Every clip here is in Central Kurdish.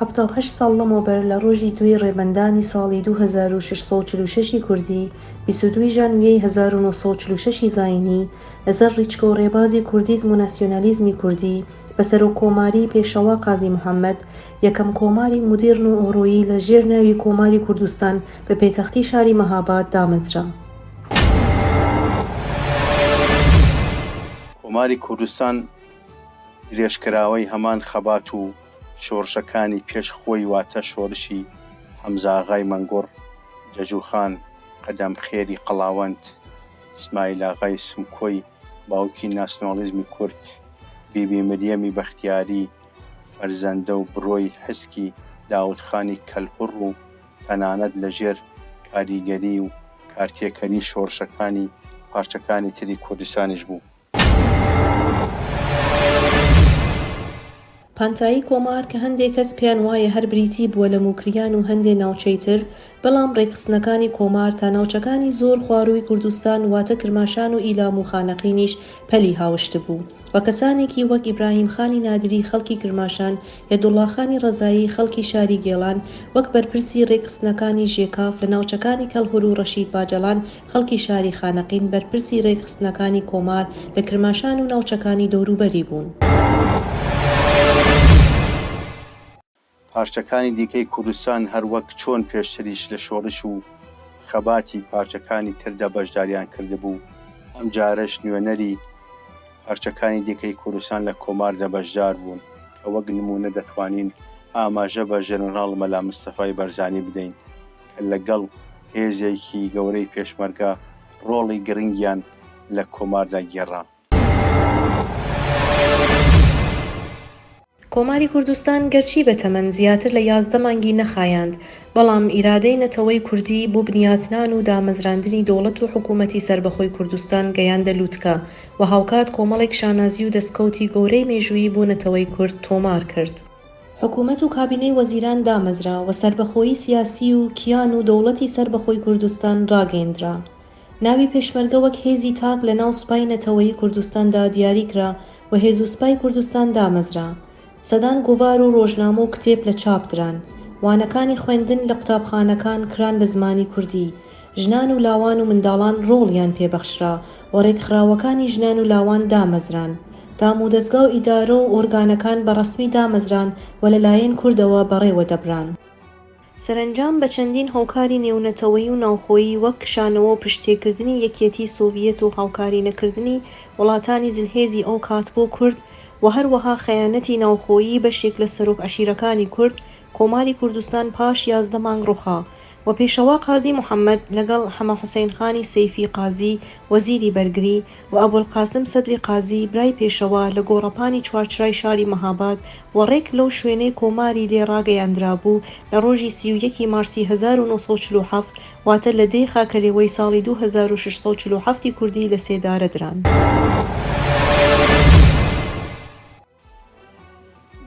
حەفتا و هەشت ساڵ لەمەوبەر لە ڕۆژی دووی ڕێبەندانی ساڵی دوو هەزار و شەش سەد و چل و شەش ی کوردی، بیست و دوو ژانویەی هەزار و نۆ سەد و چل و شەش ی زایینی، لەسەر ڕیچکە و ڕێبازی کوردیزم و ناسیۆنالیزمی کوردی، بە سەرۆککۆماریی پێشەوا قازی محەممەد، یەکەم کۆماری مودیڕن و ئۆڕۆیی لە ژێر ناوی کۆماری کوردستان بە پێتەختی شاری مەهاباد دامەزرا. کۆماری کوردستان، درێژکراوەی هەمان خەبات و شۆڕشەکانی پێش خۆی واتە شۆرشی، حەمزاغای مەنگوڕ، جەجوخان، قەدەم خێری قەڵاوەند، ئیسمایلاغای سمکۆی باوکی ناسناڵیزمی کورد، بیبی مریەمی بەختیاری، فەرزەندە و برۆی حسکی داودخانی کەلهوڕ و تەنانەت لە ژێر کاریگەری و کارتێکەری شۆڕشەکانی پارچەکانی تری کوردستانیش بوو. پانتایی کۆمار کە هەندێ کەس پێیان وایە هەر بریتی بووە لە موکریان و هەندێ ناوچەی تر، بەڵام ڕێکخستنەکانی کۆمار تا ناوچەکانی زۆر خوارووی کوردستان واتە کرماشان و ئیلام و خانەقینیش پەلی هاوشتبوو و کەسانێکی وەک ئیبراهیم خانی نادری خەڵکی کرماشان، یەدوڵڵا خانی ڕەزایی خەڵکی شاری گێڵان وەک بەرپرسی ڕێکخستنەکانی ژێکاف لە ناوچەکانی کەڵهوروو ڕەشید باجەڵان خەڵکی شاری خانەقین بەرپرسی رێکخستنەکانی کۆمار لە کرماشان و ناوچەکانی دەوروبەری بوون. پارچەکانی دیکەی کوردستان هەر وەک چۆن پێشتریش لە شۆڕش و خەباتی پارچەکانی تردا بەشداریان کردبوو، ئەمجارەش نوێنەری پارچەکانی دیکەی کوردستان لە کۆماردا بەشدار بوون، کە وەک نموونە دەتوانین ئاماژە بە ژەنراڵ مەلا مستەفای بەرزانی بدەین. کە لەگەڵ هێزێکی گەورەی پێشمەرگە ڕۆڵی گرنگیان لە کۆماردا گێڕا. کۆماری کوردستان گەرچی بە تەمەن زیاتر لە یازدە مانگی نەخایاند، بەڵام ئیرادەی نەتەوەی کوردی بۆ بنیاتنان و دامەزراندنی دەوڵەت و حکوومەتی سەربەخۆی کوردستان گەیاندە لووتکە و هاوکات کۆمەڵێک شانازی و دەسکەوتی گەورەی مێژوویی بۆ نەتەوەی کورد تۆمار کرد. حکومەت و کابینەی وەزیران دامەزرا و سەربەخۆیی سیاسی و کیان و دەوڵەتی سەربەخۆی کوردستان ڕاگەیندرا. ناوی پێشمەرگە وەک هێزی تاک لە ناو سوپای نەتەوەیی کوردستاندا دیاری کرا و هێز و سپای کوردستان دامەزرا. سەدان گۆڤار و ڕۆژنامە و کتێب لە چاپ دران. وانەکانی خوێندن لە قوتابخانەکان کران بە زمانی کوردی ژنان و لاوان و منداڵان ڕۆڵیان پێ بەخشرا و ڕێکخراوەکانی ژنان و لاوان دامەزران. دامودەزگا و ئیدارە و ئۆرگانەکان بە ڕەسمی دامەزران و لە لایەن کوردەوە بەڕێوە دەبران. سەرەنجام بە چەندین هۆکاری نێونەتەوەیی و ناوخۆیی وەک کشانەوە و پشتتێکردنی یەکیەتیی سۆڤیەت و هاوکاری نەکردنی وڵاتانی زلهێزی ئەو کات بۆ کورد و هەروەها خەیانەتی ناوخۆیی بەشێک لە سەرۆک عەشیرەکانی کورد کۆماری کوردستان پاش یازدە مانگ ڕوخا و پێشەوا قازی محەمەد لەگەڵ حەمە حوسەین خانی سەیفی قازی وەزیری بەرگری و ئەبولقاسم سەدری قازی برای پێشەوا لە گۆڕەپانی چوارچرای شاری مەهاباد و ڕێک لەو شوێنەی کۆماری لێ ڕاگەیاندرابوو لە ڕۆژی سی و یەک ی مارسی هەزار و نۆ سەد و چل و حەفت واتە لە دەی خاکەلێوەی ساڵی دوو هەزار و شەش سەد و چل و حەفت ی کوردی لە سێدارە دران.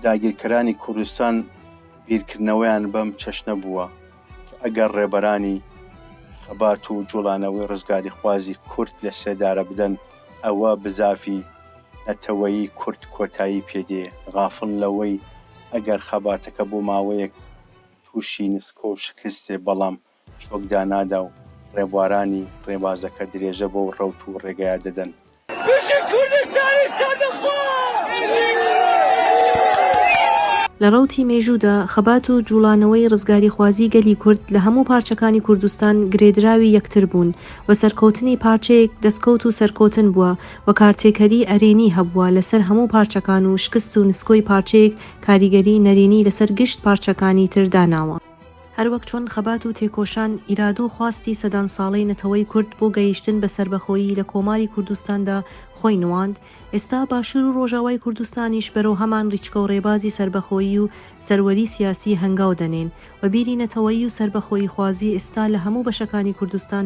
داگیرکەرانی کوردستان بیرکردنەوەیان بەم چەشنە بووە کە ئەگەر ڕێبەرانی خەبات و جوڵانەوەی ڕزگاریخوازی کورد لە سێدارە بدەن ئەوە بزافی نەتەوەیی کورد کۆتایی پێ دێ غافڵ لەوەی ئەگەر خەباتەکە بۆ ماوەیەک تووشی نسکۆ و شکست دێ بەڵام چۆک دانادا و ڕێبوارانی ڕێبازەکە درێژە بەو ڕەوت و ڕێگایە دەدەن. بژی کوردستانی سەربەخۆ. لە ڕەوتی مێژوودا خەبات و جووڵانەوەی ڕزگاریخوازیی گەلی کورد لە هەموو پارچەکانی کوردستان گرێدراوی یەکتر بوون و سەرکەوتنی پارچەیەک دەسکەوت و سەرکەوتن بووە و کارتێکەریی ئەرێنی هەبووە لەسەر هەموو پارچەکان و شکست و نسکۆی پارچەیەک کاریگەریی نەرێنی لەسەر گشت پارچەکانی تر داناوە. هەروەک چۆن خەبات و تێکۆشان، ئیرادە و خواستی سەدان ساڵەی نەتەوەی کورد بۆ گەیشتن بە سەربەخۆیی لە کۆماری کوردستاندا خۆی نواند، ئێستا باشور و ڕۆژاوای کوردستانیش بەرەو هەمان ڕیچکە و ڕێبازی سەربەخۆیی و سەروەری سیاسی هەنگاو دەنێن و بیری نەتەوەیی و سەربەخۆییخوازی ئێستا لە هەموو بەشەکانی کوردستان